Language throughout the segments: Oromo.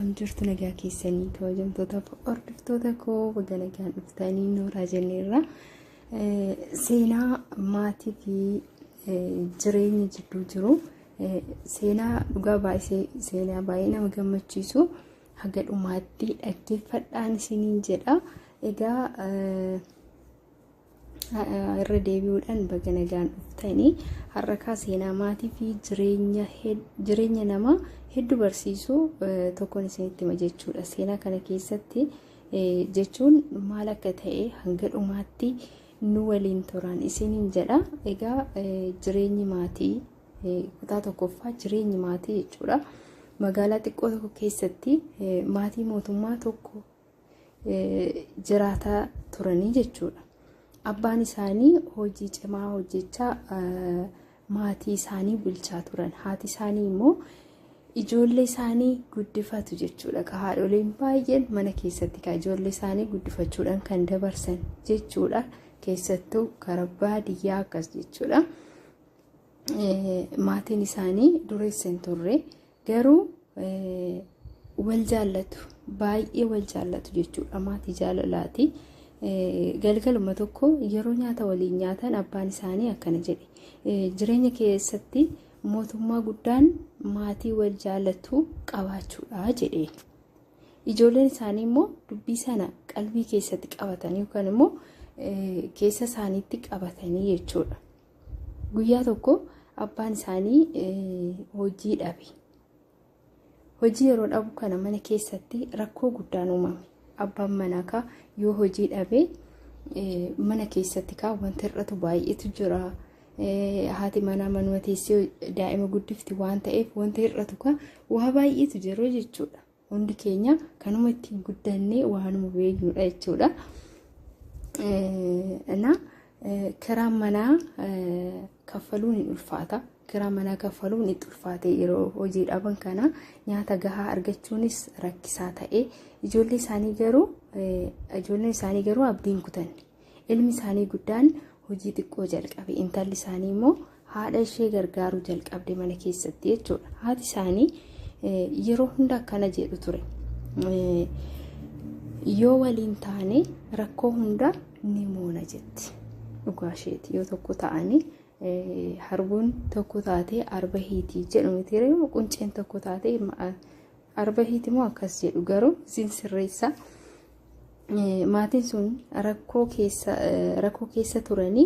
Akkam jirtu nagaa keessanii kabajamtoota hordoftoota koo baga nagaan dhuftanii nooraa jenneerra. Seenaa maatii fi jireenya jidduu jiru seenaa dhugaa baay'ee seenaa baay'ee nama gammachiisu haga dhumaatti dhaggeeffadhaan isiniin jedha. Egaa irra deebi'uudhaan baga nagaan dhuftanii har'akaa seenaa maatii fi jireenya namaa hedduu barsiisuu tokkoon isinitti hima jechuudha. Seenaa kana keessatti jechuun maal akka ta'e hanga dhumaatti nu waliin turan isiniin jedha. Egaa jireenyi maatii kutaa tokkoffaa jireenyi maatii jechuudha. Magaalaa xiqqoo tokko keessatti maatii mootummaa tokko jiraataa turanii jechuudha. Abbaan isaanii hojii cimaa hojjechaa maatii isaanii bulchaa turan. Haati isaanii immoo ijoollee isaanii guddifatu jechuudha. Haadholiin baay'een mana keessatti kan ijoollee isaanii guddifachuudhaan kan dabarsan jechuudha. Keessattuu karaa baadiyyaa akkas jechuudha. Maatiin isaanii dureessa hin turre. Garuu wal jaallatu baay'ee wal jaallatu jechuudha maatii jaalalaati. Galgaluma tokko yeroo nyaata waliin nyaatan abbaan isaanii akkana jedhe jireenya keessatti mootummaa guddaan maatii wal jaallatu qabaachuudha jedhe. Ijoolleen isaanii immoo dubbii sana qalbii keessatti qabatanii yookaan immoo keessa isaaniitti qabatanii jechuudha. Guyyaa tokko abbaan isaanii hojii dhabe. Hojii yeroo dhabu kana mana keessatti rakkoo guddaan uumame. Abbaan manaa kaa yoo hojii dhabe mana keessatti kaa wanti hir'atu baay'eetu jira. Haati manaa manuma teessee daa'ima guddifti waan ta'eef wanti hir'atu kaa waa baay'eetu jiru jechuudha. Hundi keenya kanuma ittiin guddannee waanuma beeknudha jechuudha. Ana kiraan manaa kaffaluun hin ulfaata. Kiraan manaa kaffaluun itti ulfaate yeroo hojii dhaban kana nyaata gahaa argachuunis rakkisaa ta'e. Ijoollee isaanii garuu ijoolleen isaanii garuu abdiin kutanne. Ilmi isaanii guddaan hojii xiqqoo jalqabe intalli isaanii immoo haadha ishee gargaaruu jalqabde mana keessatti jechuudha. Haati isaanii yeroo hunda akkana jedhu ture. Yoo waliin taane rakkoo hunda ni moona jetti. Dhugaa isheeti yoo tokko ta'anii harbuun tokko taatee arba hiitii jedhu miti qunceen tokko taatee Arbahiiti moo akkas jedhu garuu isin sirreessa. Maatiin sun rakkoo keessa rakkoo keessa turanii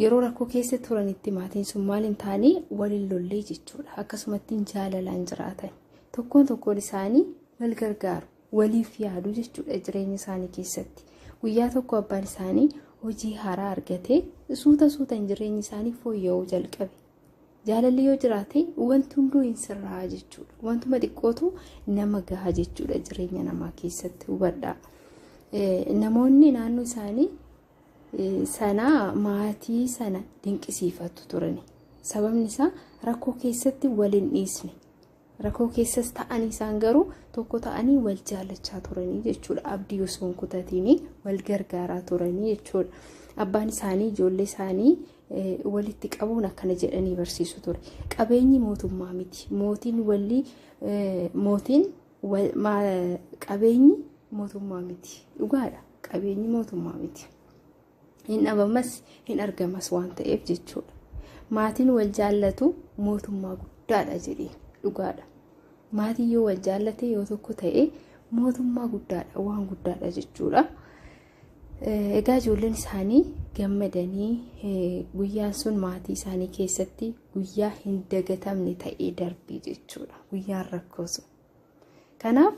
yeroo rakkoo keessa turanitti maatiin sun maal hin taane waliin lollee jechuudha. Akkasumatti jaalalaan jiraatan. Tokkoon tokkoon isaanii wal gargaaru, waliif yaadu jechuudha jireenya isaanii keessatti. Guyyaa tokko abbaan isaanii hojii haaraa argatee suuta suutan jireenyi isaanii fooyya'uu jalqabe. Jaalalli yoo jiraate wanti hunduu hin sirraa jechuudha. Wantuma xiqqootu nama gaha jechuudha jireenya namaa keessatti hubadhaa. Namoonni naannoo isaanii sanaa maatii sana dinqisiifatu turani. Sababni isaa rakkoo keessatti waliin dhiisne. Rakoo keessas ta'anii isaan garuu tokko ta'anii wal jaallachaa turanii jechuudha. Abdii osoo hin kutatiin wal gargaaraa turanii jechuudha. Abbaan isaanii ijoollee isaanii walitti qabuun akkana jedhanii barsiisu ture. Qabeenyi mootummaa miti. Mootiin walli mootiin qabeenyi mootummaa miti. Dhugaadha. Qabeenyi mootummaa miti. hin dhabamas hin argamas waan ta'eef jechuudha. Maatiin wal jaallatu mootummaa guddaadha jedhee dhugaadha. Maatiin yoo wal jaallate yoo tokko ta'e mootummaa guddaadha waan guddaadha jechuudha. Egaa ijoolleen isaanii gammadanii guyyaan sun maatii isaanii keessatti guyyaa hin dagatamne ta'ee darbii jechuudha. Guyyaan rakkoo sun. Kanaaf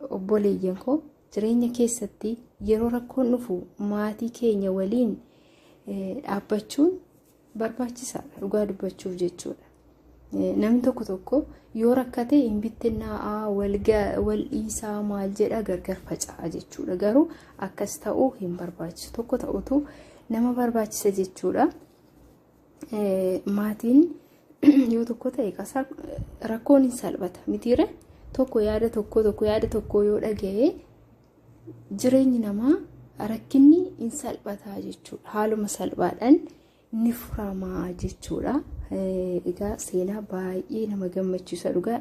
obboleeyyan koo Jireenya keessatti yeroo rakkoon dhufu maatii keenya waliin dhaabbachuun barbaachisaadha dhugaa dubbachuuf jechuudha. Namni tokko tokko yoo rakkate hin bittinnaa'aa wal dhiisaa maal jedha gargar faca'a jechuudha. Garuu akkas ta'uu hin barbaachisu. Tokko ta'utu nama barbaachisa jechuudha. maatiin yoo tokko ta'e qasaa rakkoon hin salphata mitiire tokko yaada tokko tokko yaada tokko yoo dhaga'e jireenyi namaa rakkinni hin salphataa jechuudha haaluma salphaadhaan ni furamaa jechuudha. Egaa seenaa baay'ee nama gammachiisa dhugaa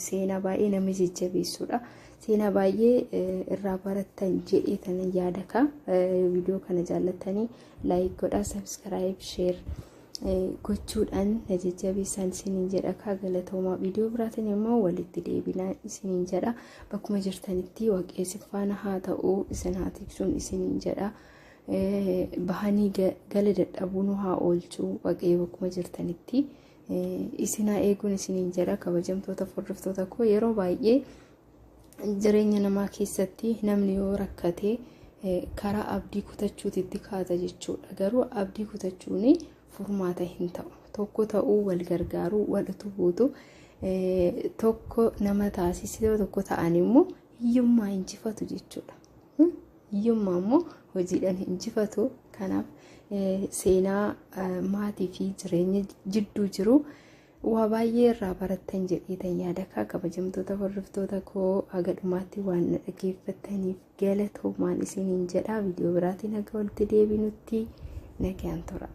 seenaa baay'ee nama jajjabeessuudha. Seenaa baay'ee irraa barattan jedhee tanan yaada kaa viidiyoo kana jaallatanii. Like godhaa, subscribe, share gochuudhaan na jajjabeessaan isiniin jedha. Kaa galatoomaa viidiyoo biraatiin immoo walitti deebinaa isiniin jedha. Bakkuma jirtanitti waaqessi faana haa ta'u isin haa tiksuun isiniin jedha. Bahanii gala dadhabuu nu haa oolchu waaqayyo bakkuma jirtanitti. Isin haa eeguun isiniin jedha kabajamtoota hordoftoota koo yeroo baay'ee. jireenya namaa keessatti namni yoo rakkate karaa abdii kutachuutitti kaata jechuudha. Garuu abdii kutachuun furmaata hin ta'u. Tokko ta'uu wal gargaaruu wal utubuutu tokko nama taasisee tokko ta'an immoo hiyyummaa injifatu jechuudha. Hiyyummaa immoo hojiidhaan injifatu. Kanaaf seenaa maatii fi jireenya jidduu jiru Waa baay'ee irraa barattan jedheetan yaadakaa kabajamtoota hordoftoota koo haga dhumaatti waan na dhageeffattaniif galatoomaan isiniin jedha viidiyoo biraatiin haga walitti deebinutti nagaan tura.